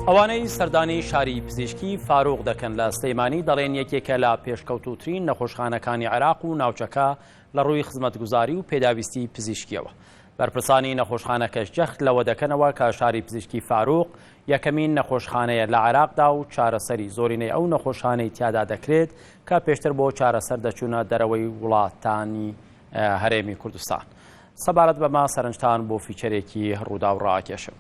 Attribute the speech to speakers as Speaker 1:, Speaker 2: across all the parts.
Speaker 1: ئەوانەی سەردانی شاری پزیشکی فاروق دەکەن لە سلەیمانی دەڵێن یەکێکە لە پێشکەوتوترین نەخۆشخانەکانی عێراق و ناوچەکە لە ڕووی خزمەتگوزاری و پێداویستی پزیشکیەوە بەرپرسانی نەخۆشخانەکەش جەخت لەوە دەکەنەوە کە شاری پزیشکی فاروق یەکەمین نەخۆشخانەیە لە عێراقدا و چارەسەری زۆرینەی ئەو نەخۆشخانەی تیادا دەکرێت کە پێشتر بۆ چارەسەر دەچوونە دەرەوەی وڵاتانی هەرێمی کوردستان سەبارەت بەمە سەرنجتان بۆ فیچەرێکی ڕووداو ڕاکێشم.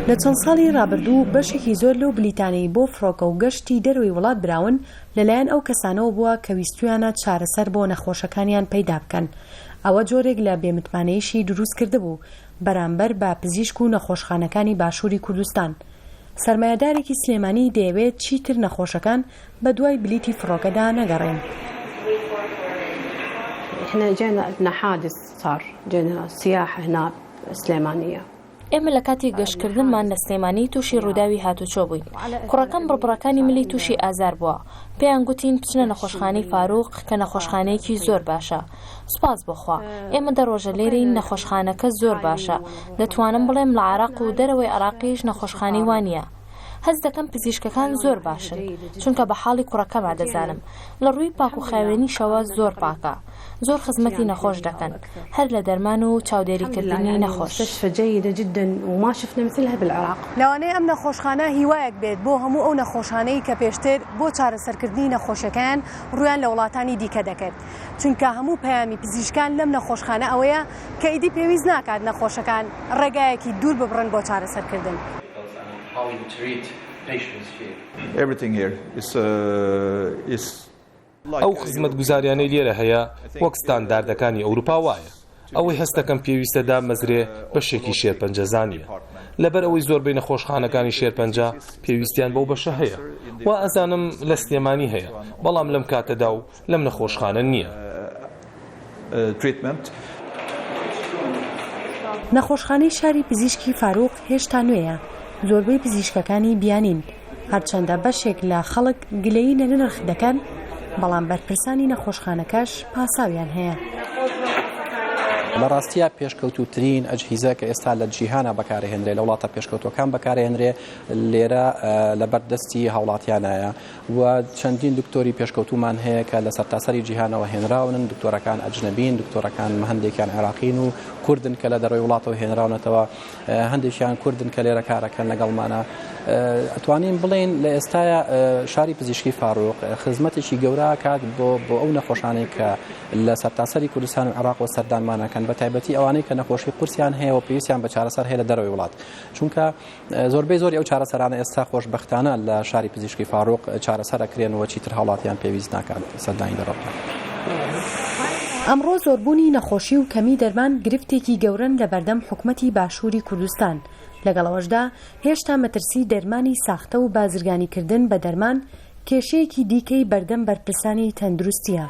Speaker 2: لە چەند ساڵی ڕابردوو بەشێکی زۆر لەو بلیتانەی بۆ فڕۆکە و گەشتی دەرەوەی وڵات براون لەلایەن ئەو کەسانەوە بووە کە ویستویانە چارەسەر بۆ نەخۆشەکانیان پەیدا بکەن ئەوە جۆرێک لە بێمتمانەیشی دروست کردبوو بەرامبەر بە پزیشک و نەخۆشخانەکانی باشووری کوردستان سەرمایەدارێکی سلێمانی دەیەوێت چیتر نەخۆشەکان بەدوای بلیتی فڕۆکەدا
Speaker 3: نەگەڕێین. ئێمە لە کاتی
Speaker 4: گەشتکردنمان لە سلێمانی تووشی ڕووداوی هاتووچۆ بووین. کوڕەکەم بڕبڕەکانی ملی تووشی ئازار بووە. پێیان گوتین بچنە نەخۆشخانەی فاروق کە نەخۆشخانەیەکی زۆر باشە. سوپاس بۆ خوا. ئێمە دە ڕۆژە لێرەین نەخۆشخانەکە زۆر باشە. دەتوانم بڵێم لە عێراق و دەرەوەی عێراقیش نەخۆشخانەی وا نییە. هەست دەکەم پزیشکەکان زۆر باشن چونکە بە حاڵی کوڕەکەما دەزانم لە ڕووی پاک و خاوێنیشەوە زۆر پاکە زۆر خزمەتی نەخۆش دەکەن هەر لە دەرمان و چاودێریکردنی نەخۆش.
Speaker 2: لەوانەیە ئەم نەخۆشخانە هیوایەک بێت بۆ هەموو ئەو نەخۆشانەی کە پێشتر بۆ چارەسەرکردنی نەخۆشیەکەیان ڕوویان لە وڵاتانی دیکە دەکرد چونکە هەموو پەیامی پزیشکان لەم نەخۆشخانە ئەوەیە کە ئیدی پێویست ناکات نەخۆشەکان ڕێگایەکی دوور ببڕن بۆ چارەسەرکردن.
Speaker 5: ئەو خزمەتگوزاریانەی لێرە هەیە وەک ستانداردەکانی ئەوروپا وایە. ئەوەی هەست دەکەم پێویستە دابمەزرێ بەشێکی شێرپەنجەزانییە. لەبەر ئەوەی زۆربەی نەخۆشخانەکانی شێرپەنجە پێویستیان بەو بەشە هەیە. وائەزانم لە سلێمانی هەیە بەڵام لەم کاتەدا و لەم نەخۆشخانە نییە.
Speaker 2: نەخۆشخانەی شاری پزیشکی فاروق هێشتا نوێیە، زۆربەی پزیشکەکانی بیانین، هەرچەندە بەشێک لە خەڵک گلەیی لە نرخ دەکەن، بەڵام بەرپرسانی نەخۆشخانەکەش پاساویان هەیە.
Speaker 6: لە ڕاستییا پێشکەوتووترین ئەجهیزە کە ئێستا لە جیهانە بەکارهێنرێ لە وڵاتە پێشکەوتوەکان بەکارهێنرێ لێرە لەبەر دەستی هاوڵاتیانایە. و چەندین دکتۆری پێشکەوتومان هەیە کە لە سەرتاسەری جیهانەوە هێنراونن دکتۆرەکان ئەجنەبین دکتۆرەکان هەندێکیان عێراقین و کوردن کە لە دەرەوەی وڵاتەوە هێنراونەتەوە هەندێکیان کوردن کە لێرە کارەکەن لەگەڵمانە ئەتوانین بڵین لە ئێستاە شاری پزیشکی فاروق خزمەتێکی گەورە کات بۆ بۆ ئەو نەخۆشانەی کە لە سەرتاسەری کوردستان و عراق و سەردانمانەکەن بە تایبەتی ئەوانەی کە نەخۆشی قورسیان هەیە و پێویستیان بە چارەسەر هەیە لە دەرەوەی وڵات چونکە زۆربەی زۆری ئەو چارەسەرانە ئێستا خۆشبەختانە لە شاری پزیشکی فاروق چارەسەر ئەکرێن و چیتر هاوڵاتیان پێویست ناکات سەردانی دەرەوە بکەن.
Speaker 2: ئەمڕۆ زۆربوونی نەخۆشی و کەمی دەرمان گرفتێکی گەورەن لە بەردەم حکومەتی باشووری کوردستان، لەگەڵ ئەوەشدا هێشتا مەترسی دەرمانی ساختە و بازرگانیکردن بە دەرمان کێشەیەکی دیکەی بەردەم بەرپرسانی تەندروستییە.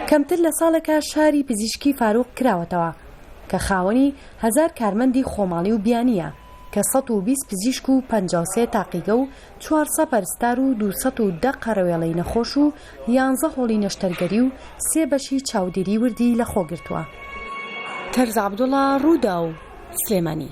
Speaker 2: کەمتر لە ساڵێکە شاری پزیشکی فاروق کراوەتەوە، کە خاوەنی هەزار کارمەندی خۆماڵی و بیانییە، کە سەد و بیست پزیشک و پەنجا و سێ تاقیگە و چوار سەپەر ستار و دوو سەد و دە قەرەوێڵەی نەخۆش و یانزە هۆڵی نەشتەرگەری و سێ بەشی چاودێری وردی لەخۆگرتووە. تەرز عەبدوڵا، رووداو، سلێمانی.